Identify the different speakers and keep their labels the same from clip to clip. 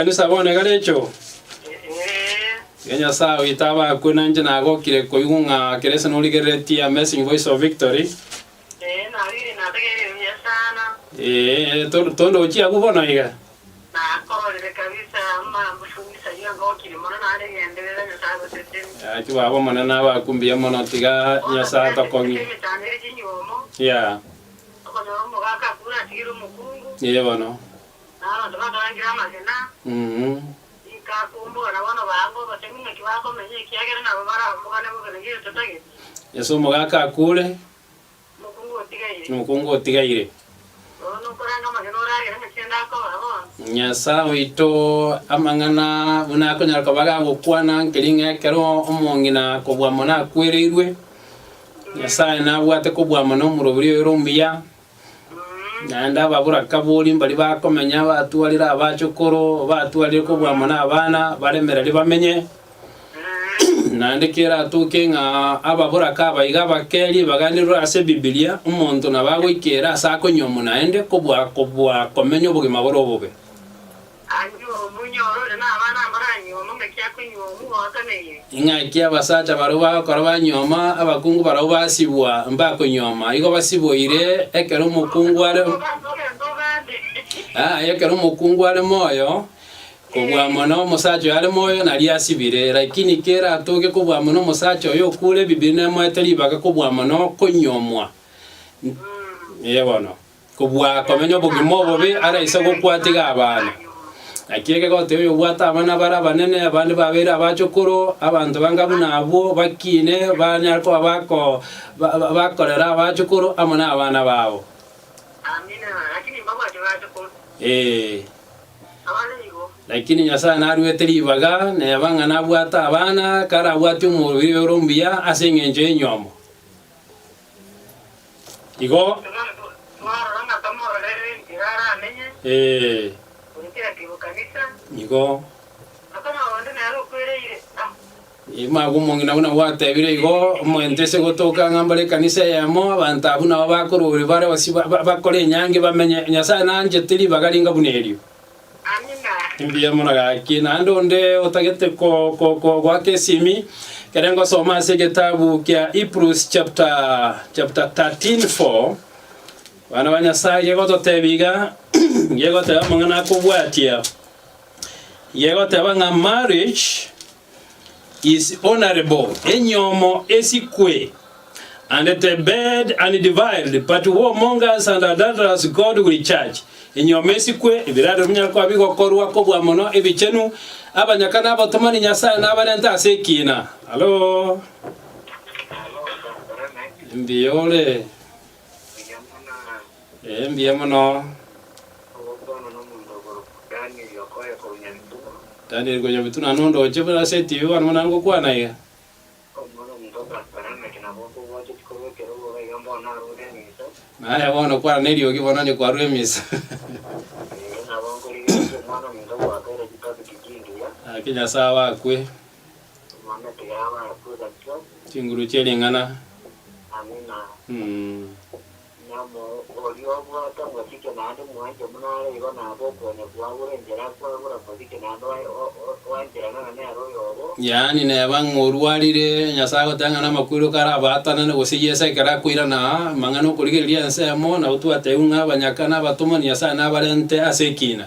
Speaker 1: Kanisa bono egare enchoo ya Nyasae oito abakwe, na inche nagokire koigwa ng'a Kristo norigereretie Amazing Voice of Victory.
Speaker 2: Ee, to- tondochie abwo bono iga. Gaki baba Omonene
Speaker 1: abakwe mbuya mono, tiga Nyasae atokong'e. Yeah,
Speaker 2: ee bono.
Speaker 1: Na
Speaker 2: abanto bakarangire amagena, bikakumbora bono baambe obosemi ng'aki bakomenya, ekiagera nabo barambogane bobe na gento tageti. Ase omogaka
Speaker 1: akuure. Omokungu otigaire. Omokungu otigaire. Nonya
Speaker 2: okoranga amagena ore agere ng'aki ende akoba bono. Nyasae oito,
Speaker 1: amang'ana buna akonyara koba gagokwana nkeri ng'a ekero omong'ina kobua mono akwereirwe, Nyasae nabwate kobua mono omorobiri oye ore omuya, Naende ababorakaboria mbaria bakomenya, batwarire abachokoro, batwarire kobua amo nabana, baremererie bamenye. Naende keratoke ng'a ababoraka aba iga abakerie baganerwe ase Bibilia, omonto nabo agoikera ase akonywa omonaende kobua kobua komenya obogima bore obobe.
Speaker 2: Anyuomu, inyora ore nabana amara anyuomu, ng'aki akonyuomu, gotoneire?
Speaker 1: Ing'aki abasacha barabwo bagokora banyuoma, abakungu barabwo basibwa, mbakonyuoma, igo basiboire, ekero omokungu are, Abwo banto gento ogande. aye ekero omokungu are moyo, kobua mono omosacha oyo are moyo naria asibire, lakini kera atoge kobua mono omosacha oyo okure, Bibiri nemoete ribaga kobua mono konyuomwa. N- Ee bono. kobua komenya obogima obobe are ase gokwa tiga abana. Naki egegoteba oyobwate abana bare abanene, abande babeire abachokoro, abanto banga buna abwo, bakiine, banyare koba bako ba- ba- bakorera abachokoro amo nabana babo. Amina, lakini mbabwate
Speaker 2: bachokoro. Ee. Abana nigo. Lakini Nyasae naruete
Speaker 1: ribaga, neba ng'a nabwate abana, karabwati omoriri ore ombuya ase engencho y'enyomo. Igo. Ee. Igo. Magwo omong'ina buna gwatebire igo, omonto ase gotoka ng'a mbare ekanisa eyemo, abanto abwo nabo bakororia bare gose bakore enyangi bamenye. Nyasae nanchete ribaga ringa buna erio. Mbuya mono gaki. Naende onde otagete ko- ko- ko- goaka esimi, ekero ngosoma ase egetabu kia Hebrews chapter chapter 13 4, abana ba Nyasae gegototebia iga, gegoteba amang'ana akobwatia, gegoteba ng'a marriage Is honourable enyomo esikwe and the bed and deviled but whomongers and adulterers God will judge enyomo esikwe ebirarero binyare koba bigokorwa kobua mono ebichenu abanyaka na abatomani Nyasaye nabarente ase ekiina Hallo Mbiore. Ee, mbuya mono. Danieli konya Mituno naende ondoche buna ase etibi bono buna ngokwana iga. Naye bono kwana neriogi bono onye kwarure emisa. Naki Nyasae obo akwe. Chinguru chie ring'ana. Yaani neba ng'a orwarire, Nyasae agoteba ng'a namakweri okare abaatanane, gose Yeso ekero akoirana aa, amang'ana 'okorigereria ensemo, nabo twatebiwa ng'a abanyaka nabatomwa, Nyasae nabarente ase ekiina.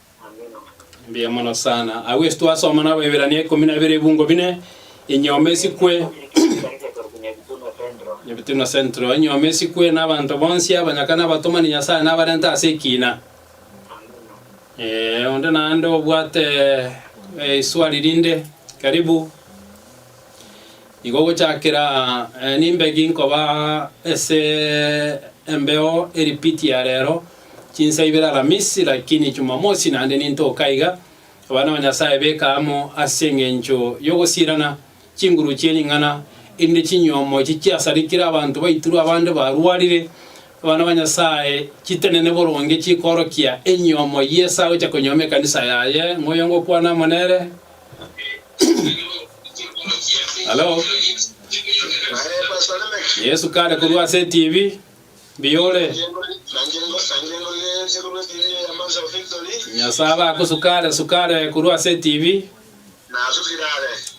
Speaker 1: Mbuya mono sana. Agwo ase twasoma na Abaeberania ikomi na bere ebungo bine, enyomba esikwe Neptuno Central, enyomba esikwe na abanto bonsi, abanyaka na abatomani Nyasae nabarente ase ekiina. Eh, onde naende obwate eh, iswali rinde, karibu. Igo gochakera eh, nimbegi nkoba ase embeo eripiti ya rero Chinsa ibere Alamisi, lakini Chumamosi naende nintoka iga, abana ba Nyasae beka amo ase engencho y'ogosiirana chinguru chie ring'ana, erinde
Speaker 3: chinyuomo echi chiasarikire abanto baiturwe abande barwarire, abana ba Nyasae chitenene boronge chikoorokia enyuomo y'esa gocha konyuoma ekanisa yaye ng'oyo ngokwana amo nere. Halo. Yesu kare korwa ase etibi. biore. Nyasae abe agosukare sukare korwa ase etibi.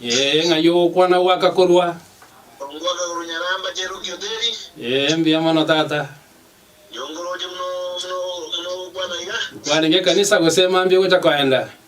Speaker 1: Ee, ng'ai ogokwana
Speaker 3: goaka korwa.
Speaker 1: Ee, mbuya mono tata. Kwarenge ekanisa
Speaker 3: gose mambia ogocha koenda.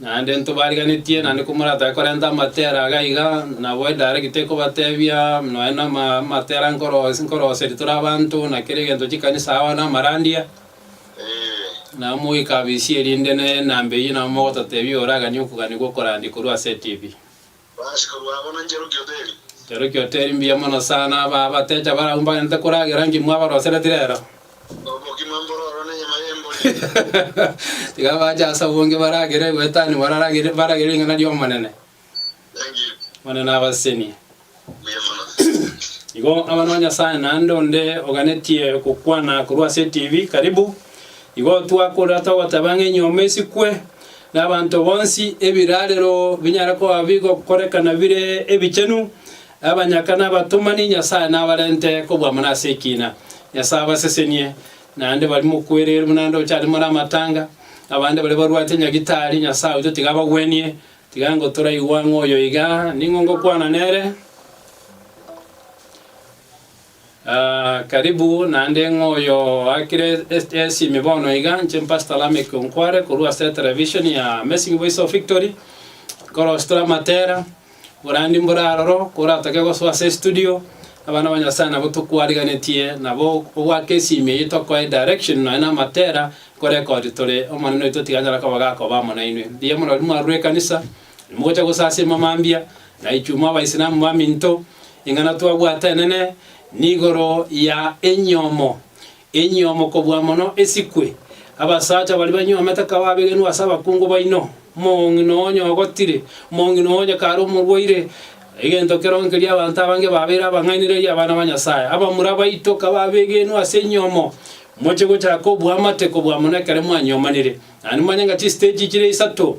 Speaker 3: Naende ntobariganetie, naende komoratake korenta amatera iga iga, nabo edirect tekobatebia nonya na ama- amatera nkoro ase nkoroseri tore abanto na kera egento chikanisa agwo na amarandia, nabo mogoika abisia erinde ne enamba eyio nabo mogototebia oraganie okogania gwa okorandia korwa ase etibi.
Speaker 1: Bagachika bwango na Ncheroki Hoteli. Ncheroki
Speaker 3: Hoteli mbuya mono sana, aba abatecha barabwo mbaganyete koragera nki mwabarosereti rero? Oboki bwa
Speaker 1: mbororo na enyama y'embori. Tiga bache
Speaker 3: ase obonge baragere goetania bararagere baragere ring'ana ri'Omonene. Thank you. Omonene abasesenie. Mbuya mono. Igo abana ba Nyasaye naende onde oganetie gokwana korwa ase eTV karibu. Igo twakorera togoteba ng'a enyomba esikwe nabaanto bonsi, ebiraarero binyare koba bigokorekana bire ebichenu, abanyaka nabatomani, Nyasae nabarente kobua muna ase ekiina. Nyasae abasesenie, naende baria mokwereire buna nde ochande more amatanga, abande baria barwate nyagitari, Nyasae oito tiga abagwenie, tiga ngo toraigwa ng'oyo iga, ning'o ngokwana nere? Karibu naende ng'a oyo oakire esimi bono iga, inche Pastor Lameck Onkware korwa ase eterevishoni ya Amazing Voice of Victory, nkorosie tore amatera, oborandi mbore aroro, koratoke gosoa ase estudio, abana ba Nyasae nabo tokwarigenetie nabo ogoaka esimi eyio tokoe direction nonya na amatera, nkorekodi tore, Omonene oito tiga anyare koba gakoba amo nainwe. Mbuya mono riria mwarure ekanisa. Nimogocha gosasima mambia, naitwe mw'Abaisilamu baminto, ing'ana twabwate enene nigoro ya enyomo, enyomo kobua mono esikwe. Abasacha baria banyomete ka babegenwa ase abakungu baino, mong'ina onye ogotire, mong'ina onye kare omorwaire, egento keronge keria abanto abange babeire abang'ainereria abana ba Nyasae. Abamura baito ka babegenwa ase enyomo, moche gochaka obwamate kobua mono ekero mwanyomanire. Naende mwanyanga chistage chire isato.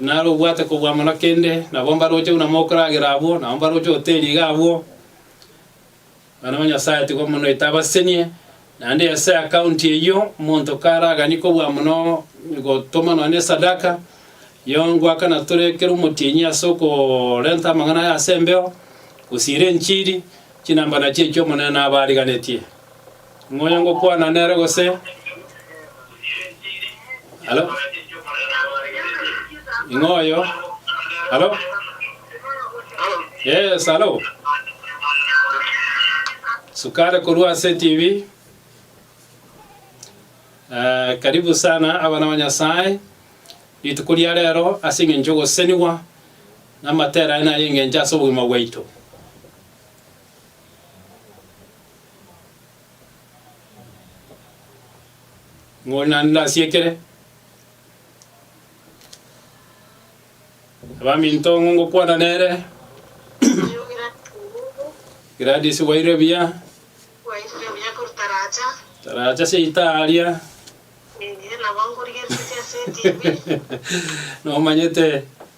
Speaker 3: Naro obwate kobua mono kende, nabo mbaroche buna mokoragera abwo, nabo mbaroche hoteli iga abwo. Abana ba Nyasae tigwa mono etabasesenie, naende ase akaunti eyio, omonto karaganie kobua mono gotoma nonye na esadaka, yo ngoakana tore ekero omotienyi ase okorenta amang'ana aya ase embeo, gosiira enchiri, chinamba nachio echio Omonene nabariganetie. Ngonya ngokwana nere gose? Halo? Ing'oyo? Halo? Yes, halo? Sukare korwa ase TV. Eh, karibu sana abana ba Nyasaye. Rituko ria rero ase eng'encho ogosenigwa namatera aye naye eng'encho ase obogima bwaito. Ng'o naende ndasiekere? Abaminto ng'o ngokwana nere? Gladys waire buya.
Speaker 2: Taracha seita
Speaker 3: aria. Nomanyete.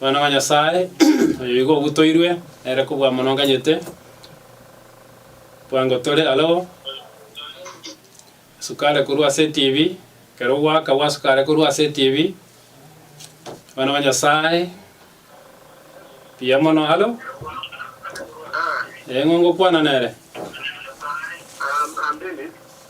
Speaker 3: Omwana wa Nyasae, oyo igo ogutoirwe, nere kobua amoronganyete, bwango tore aro, asukare korwa ase etibi, ekero ogoaka gwasukare korwa ase etibi, Omwana wa Nyasae, mbuya mono aro, eng'o ngokwana nere.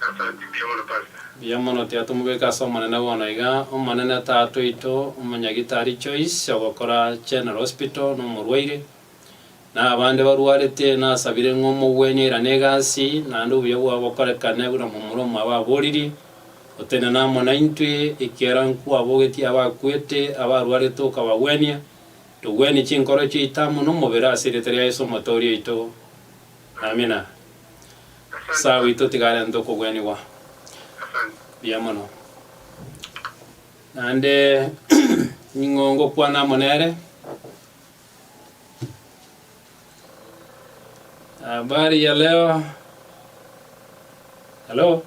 Speaker 1: Asante, mbuya mono Pastor. Mbuya mono tiga
Speaker 3: tomobeke ase Omonene bono iga, Omonene Tata oito, Omonyagitari Joyce ogokora General Hospital na omorwaire, na abande barwarete, nasabire ng'a omogwenie airane egasi, naende obuya bwao bokorekane buna momura omwabo aboririe, Gotenena amo naintwe, ekiagera nkwabogetie abakwete, abarwarete okabagwenia, togwenie chinkoro chiaito amo nomobere ase erieta ria Yeso Omotoori oito. Amina. Sawa oito tiga arente okogwenigwa. Mbuya mono. Naende ning'o ngokwana amo nere? Habari ya leo. Hello.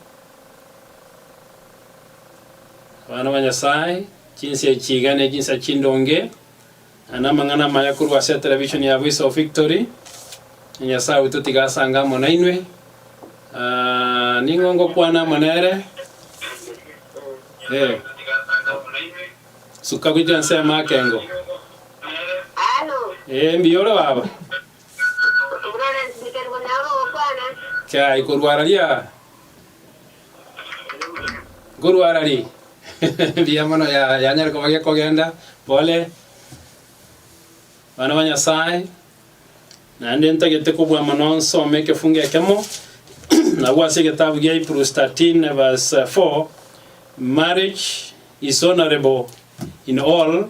Speaker 3: Abana ba Nyasaye, chinsa echi iga ne chinsa chindonge. Aya namang'ana amaya korwa ase etelevishoni ya Voice of Victory. Nyasae oito tiga asange amo nainwe. Ah, ning'o ngokwana amo nere? Eh. Suka gochia nse y'amakengo. Halo,
Speaker 2: Eh, mbuya ore baba?
Speaker 3: Florence Biterbo nabo gokwana. Kiaye korwa araria. Nkorwa ara ri mbuya mono ya yanyare koba gekogenda pole bana ba Nyasaye naende ntagete kobua mono nsome ekefungo ekemo nabwo ase egetabu gia Hebrews 13 verse 4 marriage is honorable in all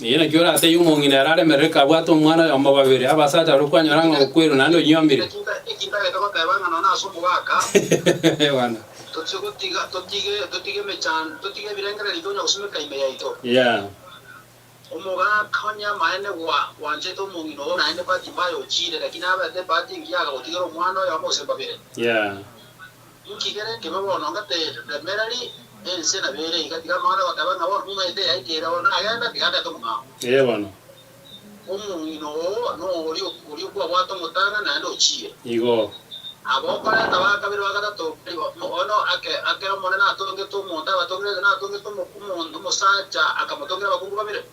Speaker 2: Eye nakio oratebie
Speaker 3: omong'ina ere aremerere kabwate omwana oyomo babere, abasacha baria kwanyora ng'a okwerwa naende onyiomire. Bwana.
Speaker 2: Yeah. Yeah.
Speaker 3: Inki kere
Speaker 2: nkebe bono ngateete? Temerari ense na bere iga tiga mwane goteba ng'a bono momaite yaikire oo nagenda tiga ndete omong'ao. Ee bono.
Speaker 3: Omong'ina
Speaker 2: oo noyorio oria okwabwate omotang'ani naende ochire. Igo.
Speaker 3: Aba okorenta
Speaker 2: ba kabere ba gatato nigo bono ake ake Omonene atongete omonto abatongire, gaki natongete omokungu omonto omosacha akamotongira abakungu babere.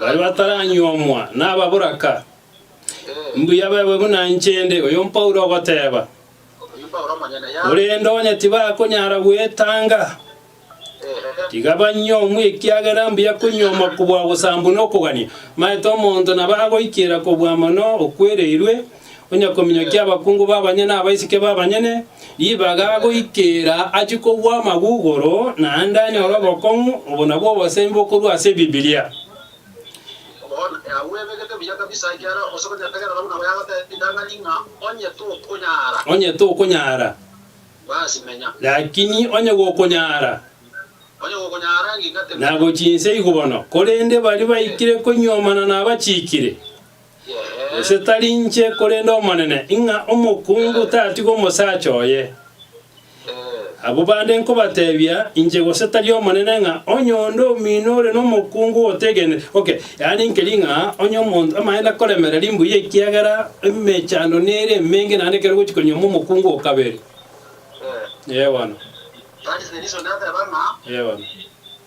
Speaker 3: Baria bataranyuomwa nababoraka. Mbuya baigwe buna inche inde, oyo Paulo ogoteba. Korende onye tibakonyara gwetanga, tiga banyuomwe, ekiagera mbuya konyuomwa kobua ogosaambwa nokogania. Maete omonto nabo agoikera kobua mono okwereirwe, Onye kominyokia abakungu b'abanyene abaiseke b'abanyene ribaga goikera achie kogwa amagugoro, naende anyore obokong'u, obo nabwo obosemi bokorwa ase Ebibilia. Onye tokonyara,
Speaker 2: lakini onye
Speaker 3: gokonyara,
Speaker 2: nagochie inse igwo
Speaker 3: bono, korende baria baikire koinyuomana nabachiikire. Gose tari inche korende Omonene, ing'a omokungu tatige omosacha oye? Abwo bande nkobatebia inche gose tari Omonene ng'a onye onde omino ore nomokungu otegenire. Okay, yaani nkeri ng'a onye omonto amanyete akoremereria mbuya ekiagera emechando nere emenge naende ekero ogochi konyuoma omokungu o kabere. Ee bono.
Speaker 2: Ee bono.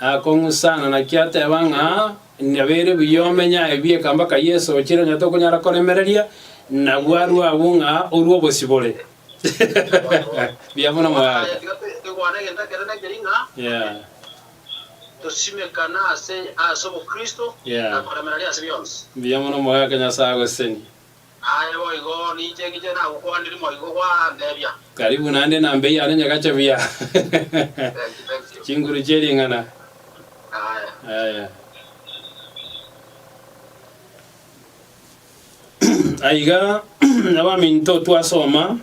Speaker 2: Akong'u sana,
Speaker 3: naki ateba ng'a nabeire buya omenye aye bieka mpaka Yeso ochire onye tokonyara koremereria, na bwarwe abwo ng'a orue obosibore. Buya buna mogaaka.
Speaker 2: Yeah. Yeah. Buya mono mogaaka
Speaker 3: Nyasae agosesenie. Aye boigo,
Speaker 2: ninche ngiche nagokwaniri moigo gwanteebia. Karibu naende na
Speaker 3: mbei yane nyagacha buya. Thank you, thank you. Chinguru chie ring'ana. Aye. Aya. Aiga abaminto twasoma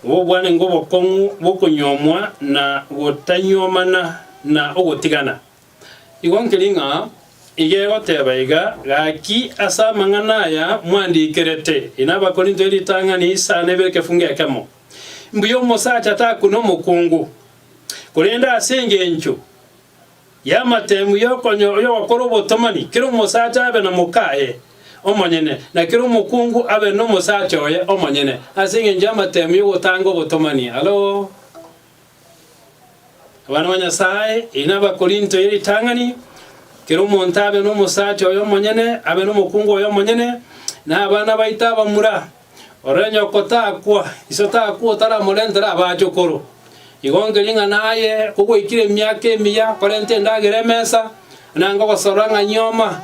Speaker 3: obobwanengo obokong'u bokonyuomwa na gotanyuomana na ogotigana. Igo nkeri ng'a igegoteba iga, Gaki ase amang'ana aya mwandikerete, inwe Abakorinto, eritang'ani isano ibere ekefungo ekemo. Mbuya omosacha takune omokungu, korende ase engencho y'amatemu y'ogokora obotomani, kera omosacha abe na mokaye omonyene, na kera omokungu abe nomosacha oye omonyene, ase engencho y'amatemu y'ogotanga obotomani. Hallo! Abana ba Nyasae, eyi n'Abakorinto ye ritang'ani, Kera omonto abe nomosacha oyomonyene, abe nomokungu oyomonyene, na abana baito abamura. Ore nyoko takwa, iso takwa otaramorentera abachokoro. Igo nkering'ana aye kogoikire emiaka emiya, korenta endagera emesa, na ngogosorora ng'a nyoma,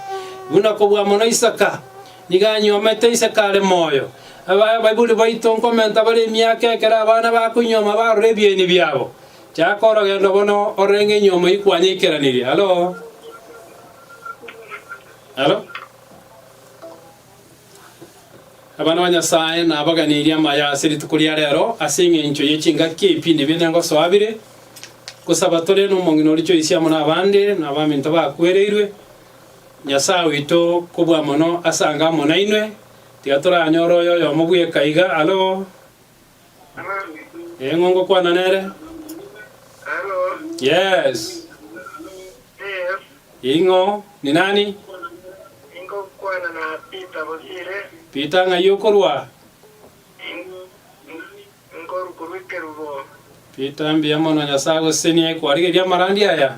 Speaker 3: buna kobua mono Isaka. Nigo anyuomete ise kare moyo. Abaibori baito nkomenta bare emiaka ekero abana bakoinyuoma barora ebieni biabo. Chaka orogendo bono orenge inyuomo yi kwanyeikeranerie. Halo? Halo? Abana ba Nyasae nabaganirie amaya ase rituko ria rero ase eng'encho ye chingaki ebipindi binde ngosoa bire, gosaba tore nomong'ina orichoisi amo nabande, na abaminto bakwereirwe, Nyasae oito kobua mono ase ango amo nainwe, tiga toranyore oyo oyomo bweka iga alo, Ee, ng'o ngokwana nere?
Speaker 2: Yes.
Speaker 3: Ing'o? Ni nani?
Speaker 2: Peter ng'ai
Speaker 3: okorwa?
Speaker 2: Peter, mbuya
Speaker 3: mono, Nyasae agosesenie kwarigeria amarandi aya.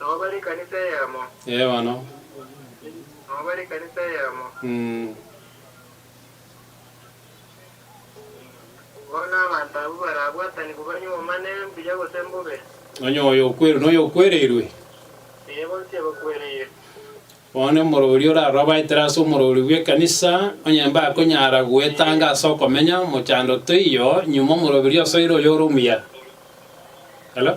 Speaker 2: Nabo bare ekanisa eyemo. Ee bono. Nabo bare ekanisa eyemo. Mm. Bono abanto abwo barabwatanigwe banywe obomane mbuya gose mbobe. Onye oyo okwereirwe
Speaker 3: noyo okwereirwe. Ee, bonsi
Speaker 2: abakwereire. Bono
Speaker 3: omorori orarobaetere ase omorori bw'ekanisa onye mbakonyara goetanga ase okomenya mochando toiyo nyuma omoroberi osoire oyo ore omuya. Hello?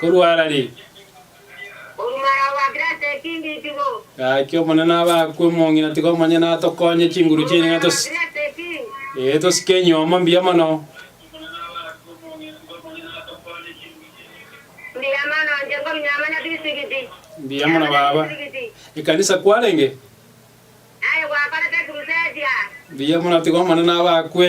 Speaker 3: Korwa Harari,
Speaker 4: gaki Omonene abe
Speaker 3: akwo emong'ina, tiga omonyene atokonye chinguru chiaino ng'a tosi- ee, tosike enyomo mbuya mono. Mbuya mono baba. Ekanisa kwarenge?
Speaker 4: Mbuya mono, tiga
Speaker 3: Omonene abe akwe.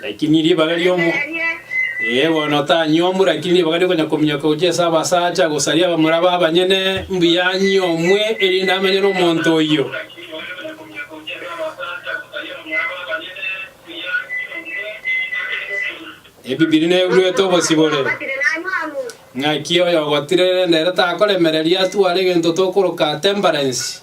Speaker 3: Lakini ribaga riomo ee bono otanyomwe, lakini ribaga riokonya kominyoka gochia ase abasacha, gosaria abamura b'abanyene, mbuya anyomwe, erinde amenye n'omonto oyio. Ebibiri nebuete obosibore. Ng'aki oyo ogotirerera ere takoremereria atware egento tokoroka temperance.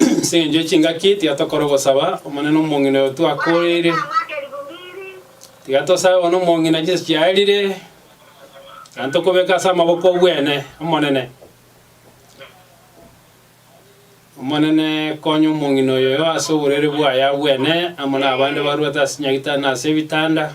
Speaker 3: Ase engencho ye chingaki tiga tokore ogosaba Omonene omong'ina oyo twakoreire. Tiga tosabe bono omong'ina chinsa chiarire, gaki tokobeke ase amaboko obwene Omonene. Omonene konya omong'ina oyoyo ase oborwaire bwaye abwene, amo nabande barwete ase chinyagitanda na ase ebitanda.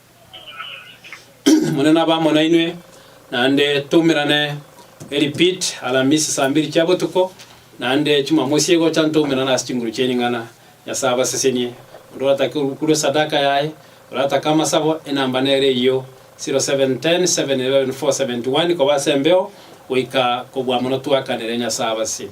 Speaker 3: Omonene abe amo nainwe, naende toumerane eripit Alamisi saa mbiri chia botuko, naende Chimamosi egocha ntoumerane ase chinguru chia ring'ana. Nyasae abasesenie. Onde oratake orukure sadaka yaye, oratake amasabo, enamba nere eyio, 0710 711 471, koba ase embeo goika kobua mono twakanire. Nyasae abasesenie.